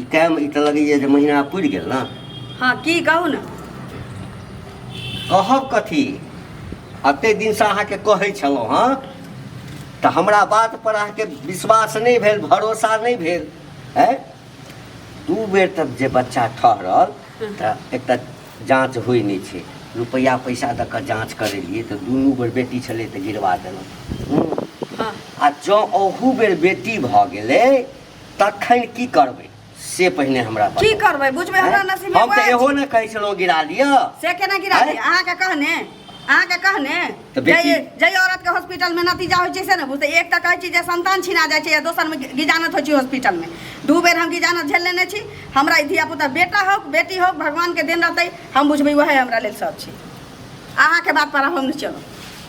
ई time ई तऽ लगैए जे महीना पुरि गेल ने हँ की कहू ने कहब कथी एते दिनसँ अहाँके कहै छलहुँ हँ तऽ हमरा बात पर अहाँके विश्वास नहि भेल भरोसा नहि भेल है दू बेर तब जे बच्चा ठहरल तऽ एकटा जाँच होइ नहि छै रुपैआ पैसा दऽ कऽ जाँच करेलियै तऽ दुनू बेर बेटी छलै तऽ गिरवा देलहुँ हूँ। हँ आ जँ ओहू बेर बेटी भऽ गेलै तखन की करबै से पहिने हमरा की बताउ। करबै बुझबै हमरा आँय? नसीब हम तऽ एहो ने कहै छलहुँ गिरा दिअ से केना गिरा आँय? दी अहाँके कहने अहाँके कहने तऽ बेटी- जइ जइ औरतके हॉस्पिटलमे नतीजा होइ छै से ने बुझतै एक तऽ कहै छी जे संतान छिना जाइ छै या दोसरमे गि- गिजानत होइ छै हॉस्पिटलमे दू बेर हम गिजानत झेल लेने छी हमरा ई धियापुता बेटा हो बेटी हो भगवानके देन रहतै हम बुझबै वएह हमरा लेल सब छै अहाँके बात पर हम नहि चलब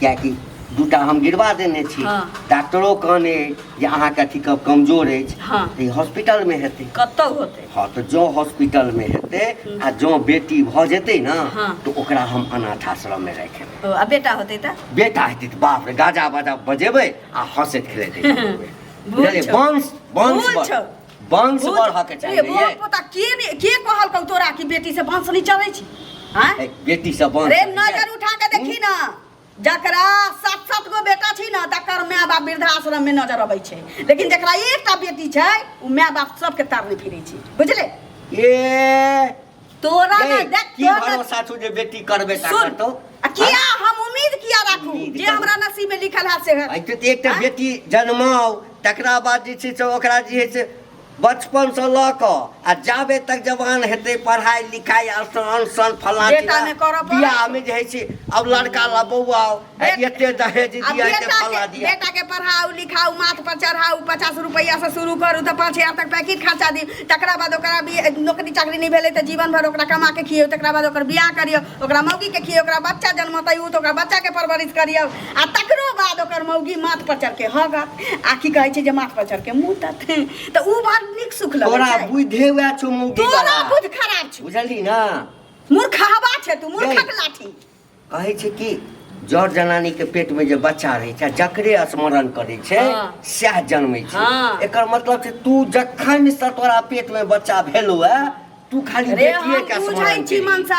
किएकि दूटा हम गिरवा देने छी हाँ। डॉक्टरो कहने अछि जे अहाँके अथी कम- कमजोर अछि हाँ। तऽ ई हॉस्पिटलमे हेतै कतऽ होतै हँ तऽ जँ हॉस्पिटलमे हेतै आ जँ बेटी भऽ जेतै ने हाँ। तऽ ओकरा हम अनाथ आश्रममे राखि लेबै ओ, आ बेटा होतै तऽ बेटा हेतै तऽ बाप रे गाजा बाजा बजेबै आ हँसैत खेलैत हेतै। बुझलियै? वंश वंश भूल छौ वंश बढ़ऽ के चाहिए रे, बहुत पता के ने- के कहलकौ तोरा कि बेटी से वंश नहीं चलै छी आँय? ए, बेटी से वंश रे नजर उठा के देखी ना जकरा सात सात गो बेटा छी ना तकर माय बाप वृद्धाश्रम में नजर अबै छै लेकिन जकरा एकटा बेटी छै ओ माय बाप सबके तारने फिरै छै बुझले ए तोरा ना ए, देख की तोरा भरोसा छौ जे बेटी करबे टा सुन करतौ आ किया हम उम्मीद किया राखू उम्मीद जे करू। हमरा नसीब में लिखल है से है भाई तो एक टा बेटी जन्माओ तकरा बाद जे छै से ओकरा जे है से बचपन से लऽ कऽ आ जाबे तक जवान हेतै पढ़ाइ लिखाइ आसान आसान फलाना बेटा चिलाना, मे करऽ पड़त। बियाह में जे है से अब लड़का ला बौआ आई एते दहेज अब दिया एते बेटा फला के- दिया बेटा के पढ़ाऊ लिखाऊ माथ पर चढ़ाऊ पचास रुपैया से शुरू करू तऽ पाँच हजार तक पैकेट खर्चा दी तकरा बाद ओकरा भी नौकरी चाकरी नहीं भेलै तऽ जीवन भर ओकरा कमा के खियौ तकरा बाद ओकर बियाह करियौ ओकरा मौगी के खियौ ओकरा बच्चा जन्मतै उ तऽ ओकरा बच्चा के परवरिश करियौ आ तकरो बाद ओकर मौगी माथ पर चढ़ के हगत आ की कहै छै जे माथ पर चढ़ के मुतत तऽ उ बड़ नीक सुख लगै तोरा छै बुद्धे हुआ छो मौगी तोरा वाला बुध खराब छै बुझली ना मूर्ख हवा छै तू मूर्खक लाठी कहै छै कि जड़ जनानी के पेट में जे बच्चा रहै छै जकरे स्मरण करै छै हाँ। सएह जन्मै छै हाँ। एकर मतलब छै तू जखन से तोरा पेट में बच्चा भेलो है तू खाली रे हम बेटिए के बुझै स्मरण छी करी। मनसा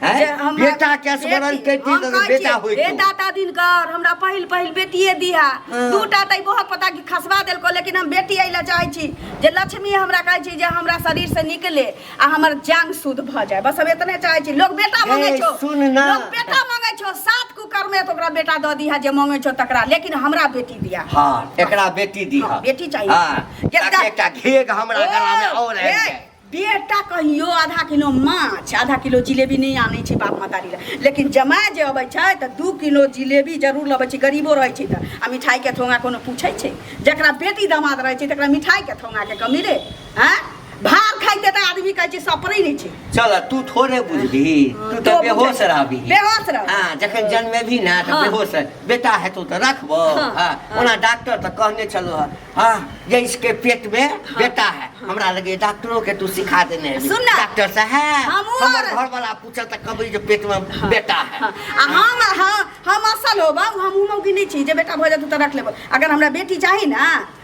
हैं? जे हमरा- बेटा के स्मरण बेटी- करितियै हम तऽ कहै बेटा छियै, होइतो। बेटा ता दिन कर हमरा पहिल पहिल बेटिए दिहा हाँ। दूटा तऽ बहुत पता कि खसबा देलको लेकिन हम बेटी अइला चाहै छी जे लक्ष्मी हमरा कहै छी जे हमरा शरीर से निकले आ हमर जान शुद्ध भ जाए बस हम इतने चाहे छी लोग बेटा मांगे छो सुन ना लोग बेटा मांगे छो सात कुकर में तो ओकरा बेटा द दिया जे मांगे छो तकरा लेकिन हमरा बेटी दिया हां एकरा बेटी दिया हाँ, बेटी चाहिए हां जब एकटा घेग हमरा गला में और है बेटा कहियो आधा किलो माछ आधा किलो जिलेबी नहीं आने छे बाप मतारी ला लेकिन जमाए जे अबै छै त दू किलो जिलेबी जरूर लबै छै गरीबो रहै छै त आ मिठाई के थोंगा कोनो पूछै छै जकरा बेटी दामाद रहै छै तकरा मिठाई के थोंगा के कमी रे हैं भार खाइते त आदमी कहै छै सपरै नै छै चल तू थोड़े बुझबी तू तो तऽ बेहोश बुझै। रहबी बेहोश रह हाँ जखन जन्मे भी ना तऽ हाँ। बेहोश रह। बेटा हेतौ तऽ रखबो हाँ, हाँ हाँ। ओना डॉक्टर तऽ कहने छलो हँ हाँ जे इसके पेट में बेटा है हमरा लगे डॉक्टरो के तू सिखा देने है सुन ना। डॉक्टर साहब हमहूँ हमर आर- घर वाला पूछल तऽ कहबै जे पेट में बेटा है हाँ, आ हम हाँ, हम असल होबा हम उमौगी नहीं छी जे बेटा भऽ जातू तऽ रख लेबो अगर हमरा बेटी चाही ना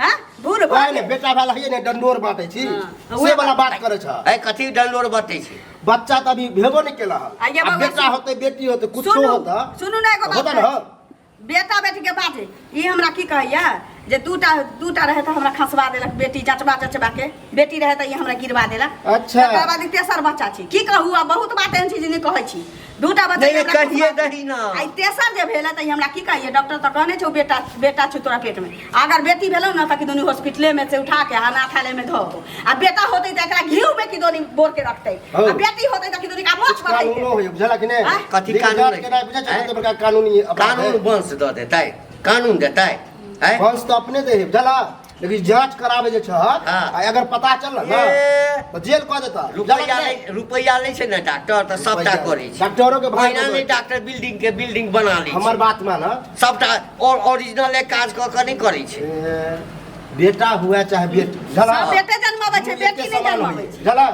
हैं बूढ़ ओए भाई ने बेटा वाला है ने डंडोर बांटे छी हाँ। से वाला बात करे छ अरे कथी डंडोर बतै छै बच्चा त अभी भेबो नहीं केला हल आइए आ बाबा, बेटा सुन- होते बेटी होते कुछो सुनू होता सुनू ना एगो बात होता न कहै। बेटा बेटी के बात है ई हमरा की कहैया जे दूटा दूटा रहे तऽ हमरा खसबा देलक बेटी जचबा जचबा के बेटी रहे तऽ ई हमरा गिरवा देला अच्छा। तकर बाद ई तेसर बच्चा छै की कहू आब बहुत बात एहन छै जे नहि कहै छी दूटा बच्चा नहि, ई हमरा कहिए कुमार- दही ना। आ ई तेसर जे भेल तऽ ई हमरा की कहिए डॉक्टर तऽ कहने छौ बेटा बेटा छौ तोरा पेट में अगर बेटी भेलौ ने तऽ कि दुनू हॉस्पिटले में से उठा के अनाथालय में धो आ बेटा होतै तऽ एकरा घीव में कि दोनी बोर के रखतै हौ। आ बेटी होतै तऽ कि दोनी का मोछ कानूनो बढ़तै होइए बुझल कि नहि आँय? कथी लेकिन कानून जात है? के राय बुझै छै, आँय? तऽ बड़का कानूनी अपराध कानून है। वंश दऽ देतै कानून देतै आँय? वंश तऽ अपने दे है बुझल लेकिन जांच करावे जे छहक हाँ। आ अगर पता चलल ना ए, तो जेल कह देता रुपैया नै रुपैया नै छै ने डॉक्टर त सबटा करै छै डॉक्टरो के भाग पहिना नै डॉक्टर बिल्डिंग के बिल्डिंग बना लै हमर छै बात मान सबटा और ओरिजिनल एक काज क के नै करै छै बेटा हुआ चाहे बेटी झला सब बेटे जन्माबै छै बेटी नै जन्माबै छै झला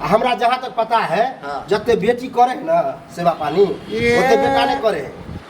आ हमरा जहाँ तक पता है हाँ। जते बेटी करे है ना सेवा पानी ये। ओते बेटा नहीं करे है